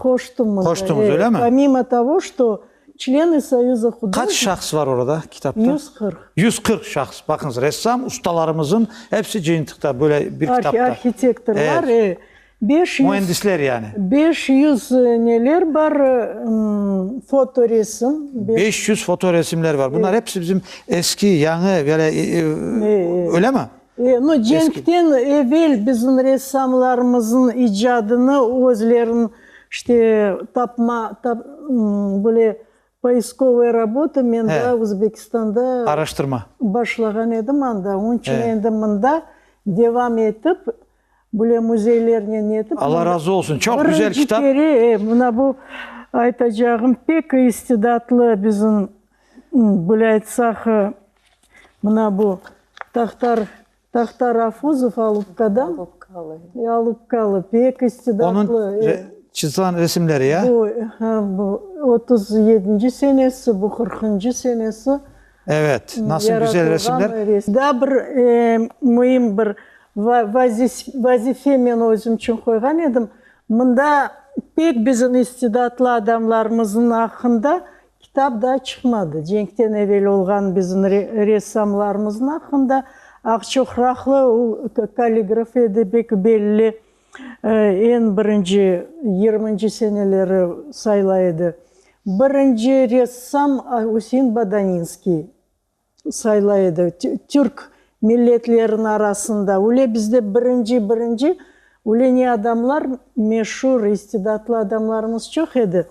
qoştımız. Qoştınız, öyle mi? Pomimo togo, što çleni Soyuza hudojnikov. Qaç şahs var orada, kitapta? Yüz qırq. Yüz qırq şahs, baqıñız, ressam ustalarımızın episi cıyıntıqta, böyle bir kitapta. Arhitektorlar, e. Beş yüz. Müendisler yani. Beş yüz neler bar? Fotoresim. Beş yüz fotoresimler bar. Bunlar hepsi bizim eski, yañı, böyle, öyle mi? E, no, cenkten evel bizim ressamlarımızın icadını özlerin, işte, tapma, tap, böyle, poiskovaya rabota men daa Özbekistanda. Araştırma. Başlağan edim anda. Onıñ içün endi mında devam etip, Bile müzeylernen netip. Alla razı olsun, çoq güzel kitap. Birinci kere, e, mına bu aytacağım, pek istidatlı bizim, böyle aytsaq, mına bu Tahtar, Tahtar Afuzov Alupkadan, Alupkalı, pek istidatlı. Onıñ çızğan resimleri, ya? Bu, ha, bu otuz yedinci senesi, bu qırqıncı senesi. Evet, nasıl güzel resimler. Daa bir müim bir vazife men özüm içün qoyğan edim, mında pek bizim istidatlı adamlarımıznıñ aqqında kitap daa çıqmadı. Cenkten evel olğan bizim ressamlarımıznıñ aqqında, Aqçoqraqlı, o kalligraf edi, pek belli Eñ birinci yirminci seneleri sayla edi. Birinci ressam Üsein Badaninskiy sayla edi. Türk milletleriniñ arasında üle bizde birinci birinci üle ne adamlar meşur, istidatlı adamlarımız çoq edi.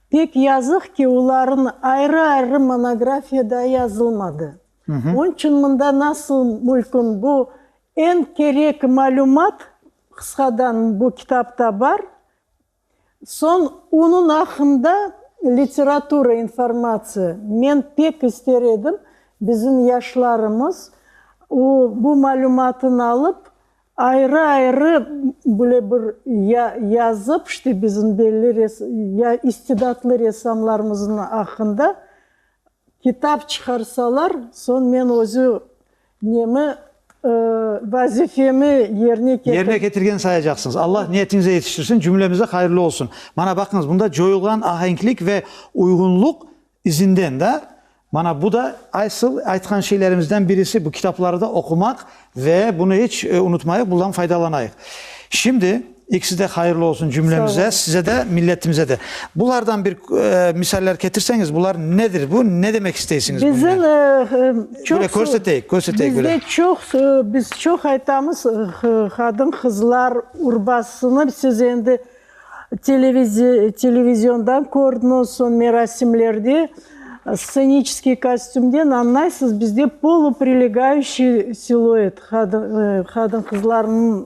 Pek yazıq ki, olarnıñ ayrı ayrı monografiya da yazılmadı. Onıñ içün mında nasıl mülküm bu Eñ kerek malümat, qısqadan, bu kitapta bar. Soñ onıñ aqqında literatura informatsiya. Men pek ister edim, bizim yaşlarımız o bu malümatnı alıp, ayrı-ayrı böyle bir ya yazıp, işte bizim belli ya istidatlı ressamlarımıznıñ aqqında kitap çıqarsalar, soñ men özü Nemi, vazifemi yerine ketirgen. Yerine ketirgen sayacaqsıñız. Allah niyetiñize yetiştirsin, cümlemize hayırlı olsun. Mana baqıñız, bunda coyulğan ahenklik ve uyğunluq izinden da, mana bu da asıl aytqan şeylerimizden birisi, bu kitapları da oqumaq ve bunı iç unutmayıq, bundan faydalanayıq. Şimdi, İkisi de hayırlı olsun cümlemize, size de, milletimize de. Bulardan bir misaller ketirseniz, bular nedir bu, ne demek isteysiniz bundan? Bizim çoq... Böyle körseteyik, körseteyik böyle. Bizde çoq, biz çoq aytamız, qadın, qızlar urbasını siz endi televiziyondan kördiñiz, son merasimlerde sceniçeskiy kostümden añlaysız, bizde poluprilegaющiy siluet, qadın, qızlarnıñ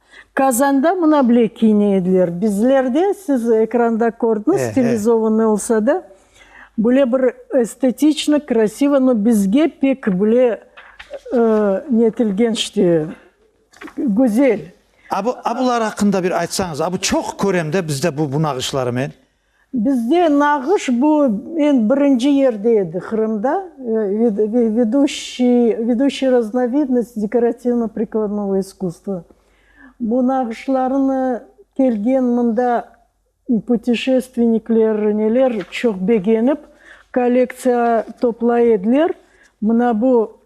Kazanda mına bile kiyine ediler. Bizlerde, siz ekranda kördiñiz, stilizovanıy olsa da, böyle bir estetiçnı, krasivo, no bizge pek böyle netilgen işte, güzel. A, bular aqqında bir aytsañız. A, bu çoq körem de bizde bu bunağışlarımen. Bizde nağış bu, men birinci yerde edi, Qırımda, veduşiy raznovidnost dekorativno-prikladnovoy iskusstvo. Bu nağışlarnı kelgen mında putişestvennikler, neler çoq begenip, kollektsiya toplay ediler. Mına bu,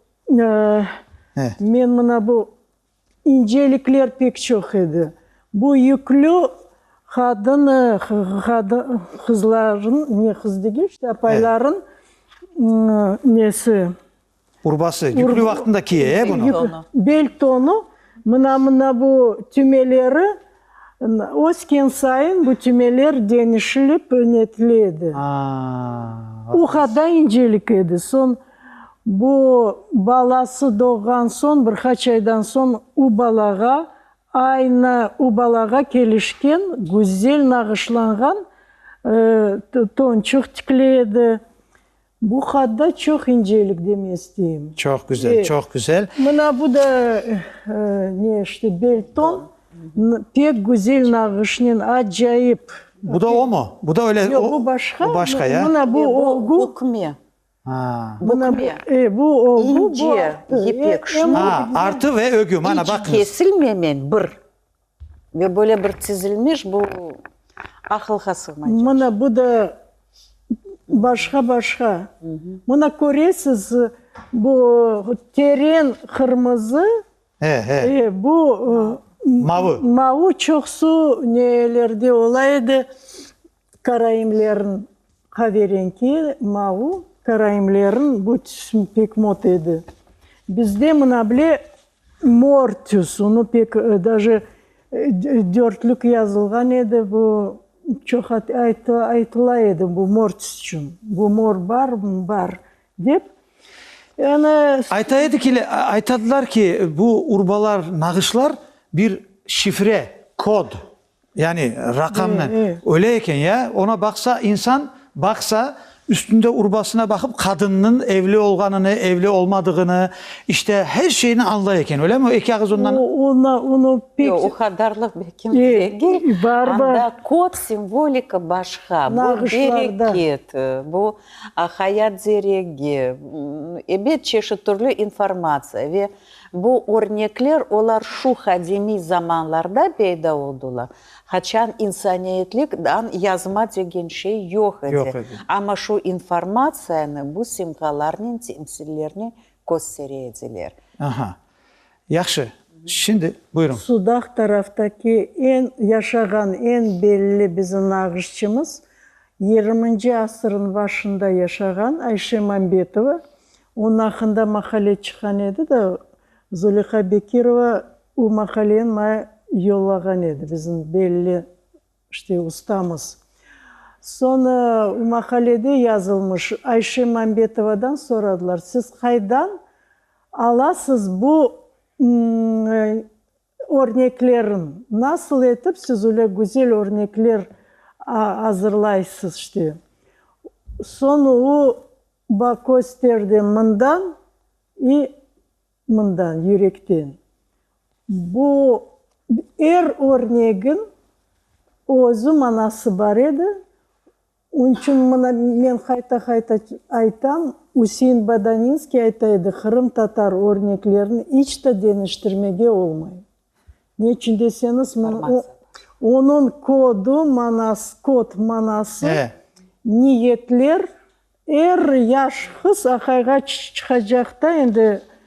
men mına bu İncelikler pek çoq edi. Bu yüklü qadın, qızların, ne qız degil, işte, apayların nesi? Urbası, yüklü vaqtında kiye, e, bunı. Bel tonu, mına, mına bu tümeleri, Ösken sayın bu tümeler deñişilip önetile edi. O qada incelik edi. Soñ bu balası doğğan soñ, bir qaç aydan soñ u balağa aynı u balağa kelişken güzel nağışlanğan tonçuq tikile edi. Bu hadda çoq incelik deme isteyim. Çoq güzel, çoq güzel. Mına bu da ne işte belton, pek güzel nağışnen, acayip. Bu da o mu? Bu da öyle. Yoq, bu başqa. Bu başqa, ya. Mına bu olgu. Bu bükme. Ha. Bükme. E, bu olgu, bu artı. İnce, ipek. Ha, artı ve ögü. Hiç kesilmemen bir. Ve böyle bir tizilmiş, bu aqılğa sığmay cık. Mına bu da başqa-başqa. Mına köresiz, bu teren qırmızı, bu mavı çoqsu nelerde ola edi, Karaimlerniñ qaverenki, mauv, karaimlerniñ bu tüsün pek mot edi. Bizde mına bile mor tüs, onı pek daje dörtlük yazılğan edi, bu çoq aytıla edi bu mor tüs içün, bu mor bar, bar dep. Ayta edikiler, aytadılar ki, bu urbalar, nağışlar bir şifre, kod, Yani raqamnı. Öyle eken ya, ona baqsa, insan baqsa, üstünde urbasına baqıp, qadınnıñ evli olğanını, evli olmadığını, işte, her şeyni añlay eken, öylemi? O eki ağız ondan. Ona, onu pek. Yoq, o qadarlıq belki degil. Bar, bar. Anda kod, simvolika başqa. Nağışlarda. Bu bereket, bu hayat zeregi, ebet çeşit türlü informatsiya ve. Bu örnekler olar şu qadimiy zamanlarda peyda oldılar, qaçan insaniyetlik dan yazma degen şey yoq edi, amma şu informatsiyanı bu simkalarnen temsillerni köstere ediler. Aha, yahşı, şimdi buyurıñ. Sudaq taraftaki eñ yaşağan, eñ belli bizim nağışçımız, yirminci asırnıñ başında yaşağan Ayşe Mambetova, Onıñ aqqında maqale çıqqan edi da, Zuleyha Bekirova o maqaleni maña yollağan edi, bizim belli işte ustamız. Soñ o maqalede yazılmış, Ayşe Mambetovadan soradılar, siz qaydan alasız bu Örneklerin, nasıl etip siz öyle güzel örnekler azırlaysız işte. Soñ o baq kösterdi mından i mından, yürekten. Bu er örnegin özü manası bar edi. Onıñ içün mına men qayta-qayta aytam, Üsein Badaninskiy ayta edi, qırımtatar örneklerini iç de deñiştirmege olmay. Ne içün deseñiz, onıñ kodu, manası, kod manası, niyetler, er yaş qız aqayğa çıqacaqta endi,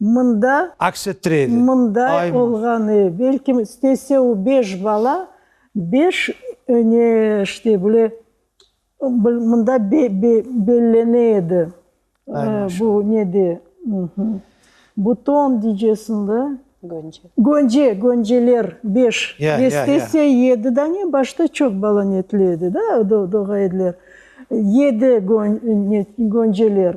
Mında, Aks ettire edi. mınday Ay mı? olğan ev. Belkim istese o beş bala, beş öne işte böyle bil mında be be bellene edi. Ay Ee, maşallah. bu ne de, mhü, buton diycesiñ da? Gönce. Gönce, gönceler beş. Ya, ya, ya. Estese yedi dane, başta çoq bala netli edi da, do doğa ediler. Yedi gön ne gönceler.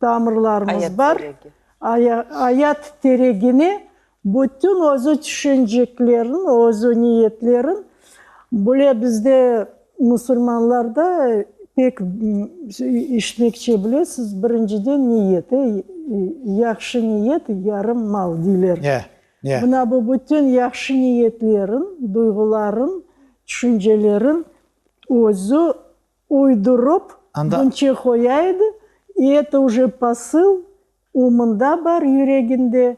tamırlarımız bar, ayat teregine bütün özü tüşencekleriñ, özü niyetleriñ, bule bizde musulmanlarda pek işitmekçe bilesiz, birinciden niyet, ey, yahşı niyet, yarım mal, deyler. Mına bu bütün yahşı niyetleriñ, duyğularıñ, tüşenceleriñ özü Uydurıp bunçe qoya edi, i eto uje pasıl, u mında bar yüreginde,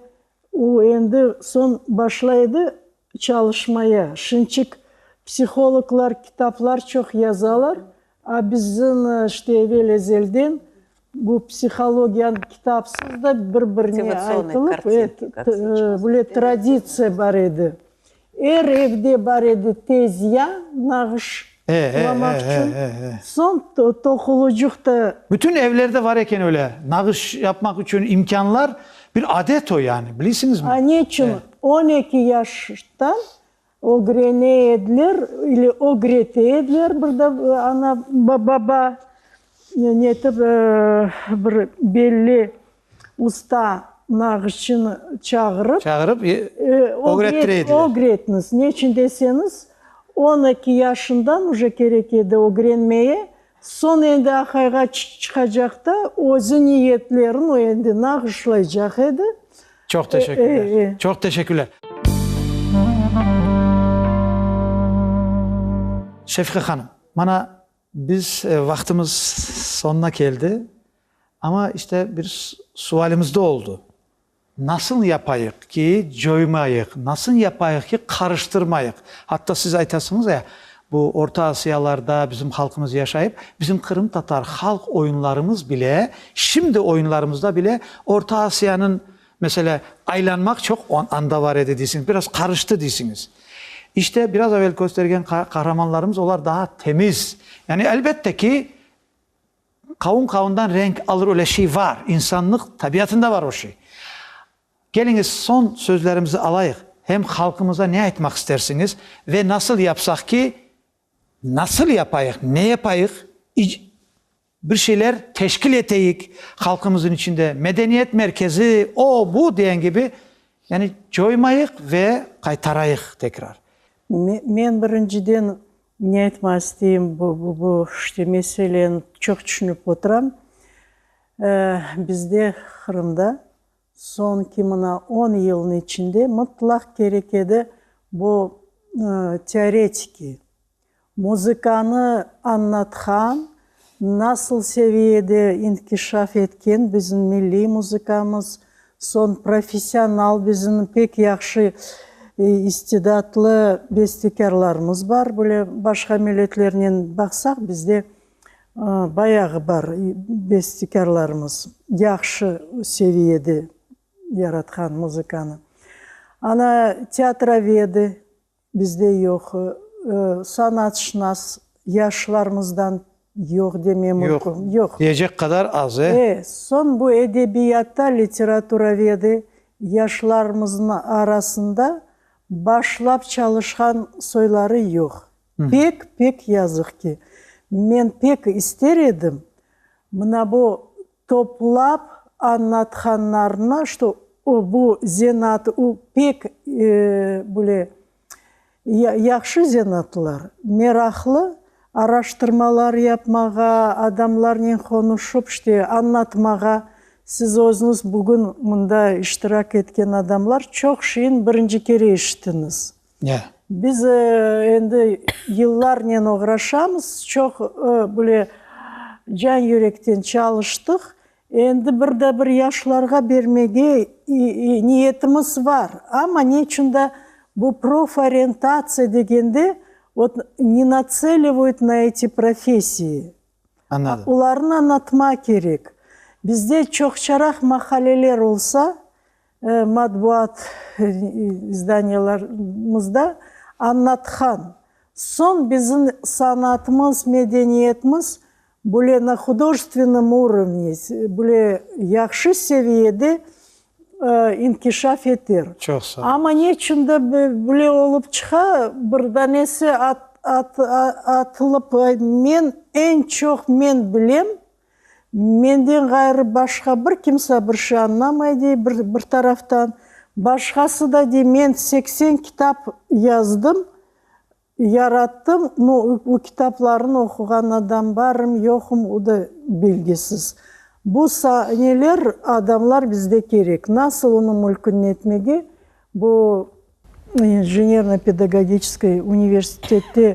u endi soñ başla edi çalışmaya. Şinçik psihologlar kitaplar çoq yazalar, a bizim işte evel-ezelden Bu psihologiyanı kitapsız da bir-birine aytılıp, böyle traditsiya bar edi. Er evde bar edi tezya, nağış lamaq içün, soñ toqulucıq da. Bütün evlerde var eken öyle nağış yapmaq içün imkânlar, bir adet o yani, bilisiñizmi? Aneçün on eki yaştan Ögrene ediler ile ögrete ediler bir de ana baba netip bir belli usta nağışçını çağırıp. Çağırıp ögrettire ediler. Ögretiniz. Neçün deseñiz, on eki yaşından uje kerek edi ögrenmeye, Soñ endi aqayğa çıqacaq da, özü niyetlerin o endi nağışlaycaq edi. Çoq teşekkürler. Çoq teşekkürler. Şefiqa hanım, mana biz vaqtımız soñuna keldi, amma işte bir sualimiz da oldu. Nasıl yapayıq ki, coymayıq? Nasıl yapayıq ki, qarıştırmayıq? Atta siz aytasıñız ya, bu Orta Asiyalarda bizim halqımız yaşayıp, bizim qırımtatar halq oyunlarımız bile, şimdi oyunlarımızda bile Orta Asiyanıñ, meselâ, aylanmaq çoq anda bar edi deysiñiz, biraz qarıştı deysiñiz. İşte, biraz evel köstergen qahramanlarımız, olar daa temiz. Yani, elbette ki. Qavun qavundan renk alır öyle şey var, insannıq tabiatında var o şey. Keliñiz soñ sözlerimizi alayıq, hem halqımıza ne aytmaq istersiñiz ve nasıl yapsaq ki, nasıl yapayıq, ne yapayıq, ic, bir şeyler teşkil eteyik halqımızın içinde, medeniyet merkezi, o, bu diyen kibi, yani coymayıq ve qaytarayıq tekrar. Me, men birinciden Ne aytmaq isteyim, bu işte meseleni çoq tüşünip oturam. Bizde, Qırımda, soñki mına on yılnıñ içinde mıtlaq kerek edi bu teoretiki, muzıkanı añlatqan, Nasıl seviyede inkişaf etken bizim milliy muzıkamız, soñ professional bizim pek yahşı istidatlı bestekârlarımız bar, böyle başqa milletlernen baqsaq, bizde bayağı bar bestekârlarımız, yahşı seviyede yaratqan muzıkanı. Ana teatrovedi. Bizde yoq, sanatşınas yaşlarımızdan yoq demem mümkün. Yoq. Diyecek qadar az, e? E, soñ bu edebiyatta literaturavedi yaşlarımızın arasında başlap çalışqan soyları yoq. Pek, pek yazıq ki. Men pek ister edim, mına bu Toplap añlatqanlarına, çto bu zenaat u pek bule yahşı zenaatlar, meraqlı, araştırmalar yapmağa, adamlarnen qonuşıp, çte añlatmağa, siz özüñiz bugün mında iştirak etken adamlar çoq şeyin birinci kere eşittiñiz. Ne? Biz endi yıllarnen oğraşamız, çoq böyle can-yürekten çalıştıq. Endi bir de bir yaşlarğa bermege niyetimiz bar. Amma ne içün de bu proforientatsiya degende ot ne natselivüyt na eti professiyi. Anladım. Olarnı anlatma kerek. Bizde çoqçaraq mahalleler olsa, Matbuat izdaniyalarımızda Annatxan, soñ bizim sanatımız, medeniyetimiz böyle na hudojestvennom urovne, böyle yahşı seviyede inkişaf eter. Çoq sağ ol. Amma ne içün de böyle olıp çıqa, bir danesi atılıp, men, eñ çoq men bilem, Menden ğayrı başqa bir kimsa bir şey añlamay, dey, bir taraftan. Başqası da, dey, men seksen kitap yazdım, yarattım, no o kitaplarnı oquğan adam barım, yoqum, o da belgisiz. Bu saneler, adamlar bizde kerek. Nasıl onıñ mülkün netmege, bu inženerno-pedagogiçeskoy universitette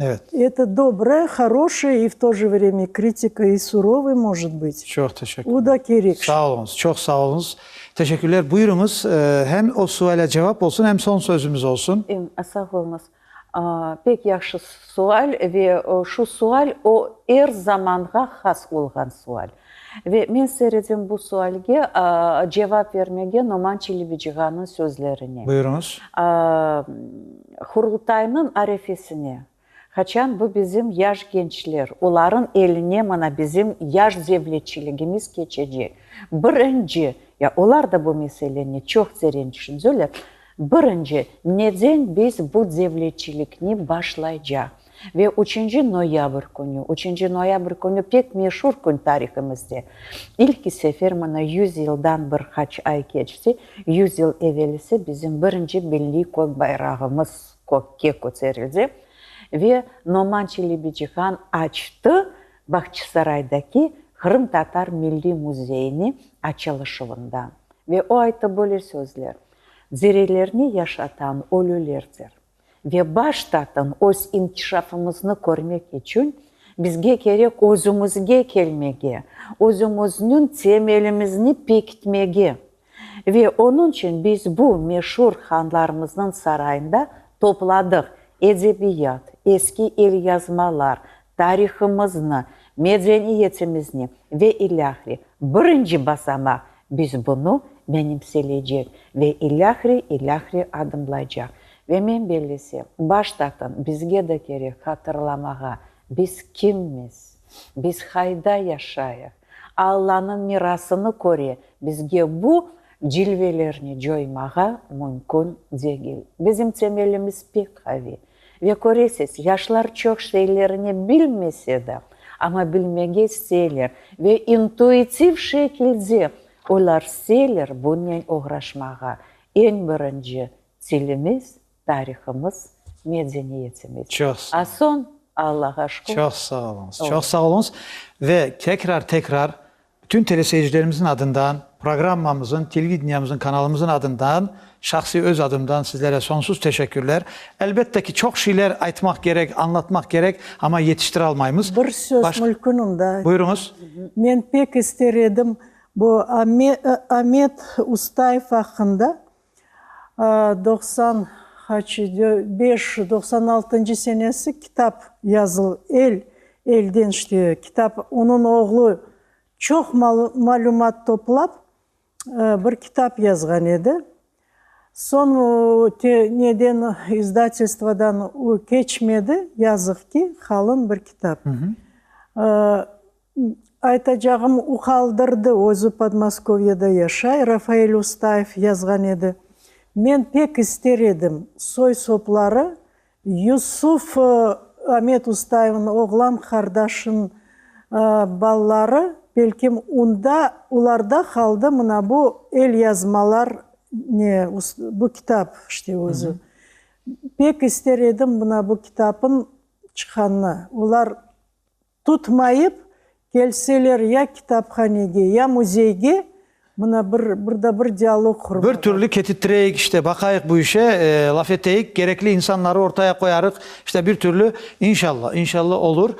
Evet. Eto dobra, haroşaya i v to je vremya kritika i surovaya может bıt. Çoq teşekkürler. O da kerek. Sağ oluñız, çoq sağ oluñız. Teşekkürler. Buyurıñız, hem o suale cevap olsun, hem soñ sözümiz olsun. Sağ oluñız. Pek yahşı sual ve şu sual o er zamanğa has olğan sual. Ve men seyredem bu sualge, cevap vermege Noman Çelebicığanıñ sözlerine. Buyurıñız. Qurultaynıñ arefesine, qaçan bu bizim yaş gençler, olarıñ eline mana bizim yaş devletçiligimiz keçecek, birinci, ya olar da bu meseleni çoq teren tüşünseler, birinci, neden biz bu devletçilikni başlaycaq? Ve üçünci noyabr künü, üçünci noyabr künü pek meşur kün tarihimizde. İlki sefer mına yüz yıldan bir qaç ay keçti, yüz yıl evelisi bizim birinci milliy kök bayrağımız kökke köterildi ve Noman Çelebicihan açtı Bağçısaraydaki Qırımtatar milliy müzeyini açılışuvında. Ve o ayttı böyle sözler, Dirilerni yaşatan ölülerdir. Ve baştaten öz inkişafımıznı körmek içün bizge kerek özümizge kelmege, özümizniñ temelimizni pekitmege. Ve onıñ içün biz bu meşur hanlarımıznıñ sarayında topladıq edebiyat, eski elyazmalar, Tarihımıznı, medeniyetimizni ve ilâhre birinci basamaq, biz bunı menimseleycek ve ilâhre, ilâhre adımlaycaq. Ve men bellesem, baştaqın bizge de kerek hatırlamağa, biz kimmiz, biz qayda yaşayıq, Allanıñ mirasını köre bizge bu cilvelerni coymağa mümkün degil. Bizim temelimiz pek qaviy, Ve köresiz, yaşlar çoq şeylerni bilmese de, amma bilmege isteyler ve intuitiv şekilde olar isteyler bunnen oğraşmağa. Eñ birinci tilimiz, tarihımız, medeniyetimiz. Çoq sağ A olun. soñ, Allağa şükür. Çoq sağ oluñız, çoq sağ oluñız. Ve tekrar-tekrar Bütün teleseyircilerimizniñ adından, programmamızın, televideniemizniñ kanalımızın adından, şahsiy öz adımdan sizlere sonsuz teşekkürler. Elbette ki, çoq şeyler aytmaq kerek, añlatmaq kerek, amma yetiştire almaymız. Bir söz, Baş... mülkün unda. Buyuruñız. Men pek ister edim bu Amet Ustayev aqqında. doqsan haçi, beş yüz doqsan altıncı senesi kitap yazıl, el, elden işleu kitap, onıñ oğlu çoq malümat toplap, bir kitap yazğan edi. Soñ neden, izdatelstvodan o keçmedi, yazıq ki, qalın bir kitap. Aytacağım, o qaldırdı, özü Podmoskoviyede yaşay, Rafael Ustayev yazğan edi, Men pek ister edim, soy-sopları Yusuf Amet Ustayevniñ oğlan qardaşınıñ balaları, belkim unda, olarda qaldı mına bu elyazmalar, ne, bu kitap işte özü. Pek ister edim mına bu kitapnıñ çıqqanını. Olar Tutmayıp kelseler ya kitaphanege, ya müzeyge, mına bir, bir da bir dialog qurmağa. Bir türlü ketittireyik işte, baqayıq bu işe, laf eteyik, gerekli insanları ortaya qoyarıq, işte bir türlü, inşallah, inşallah olur.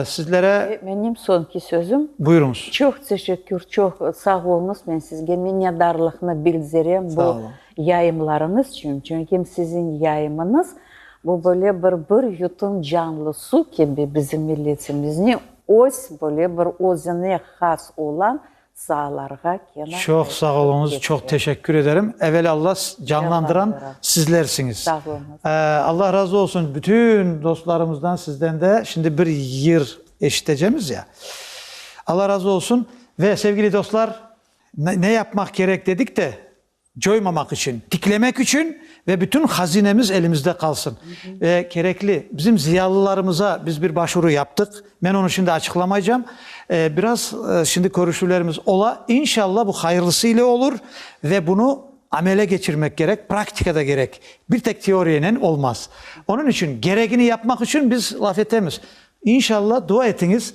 Sizlere. Ve menim soñki sözüm. Buyuruñız. Çoq teşekkür, çoq sağ oluñız, men sizge minnetdarlıqnı bildirem. Sağ oluñ. Yayımlarıñız içün, çünkim siziñ yayımıñız, bu böyle bir bir yutum canlı suv kibi bizim milletimizni öz böyle bir özüne has olan saalarğa kena Çoq sağ oluñız, çoq teşekkür ederim. Evel Alla, canlandıran sizlersiñiz. Sağ oluñız. Alla razı olsun bütün dostlarımızdan, sizden de. Şimdi bir yır eşitecemiz ya. Alla razı olsun. Ve sevgili dostlar, ne yapmaq kerek dedik de, Coymamaq içün, tiklemek içün ve bütün hazinemiz elimizde qalsın. Ve kerekli bizim ziyalılarımıza biz bir başuru yaptıq. Men onı şimdi açıqlamaycam. Biraz şimdi körüşüvlerimiz ola. İnşallah bu hayırlısı ile olur ve bunı amele keçirmek kerek, praktikada kerek. Bir tek teoriyenen olmaz. Onıñ içün, geregini yapmaq içün biz laf etemiz. İnşallah dua etiñiz.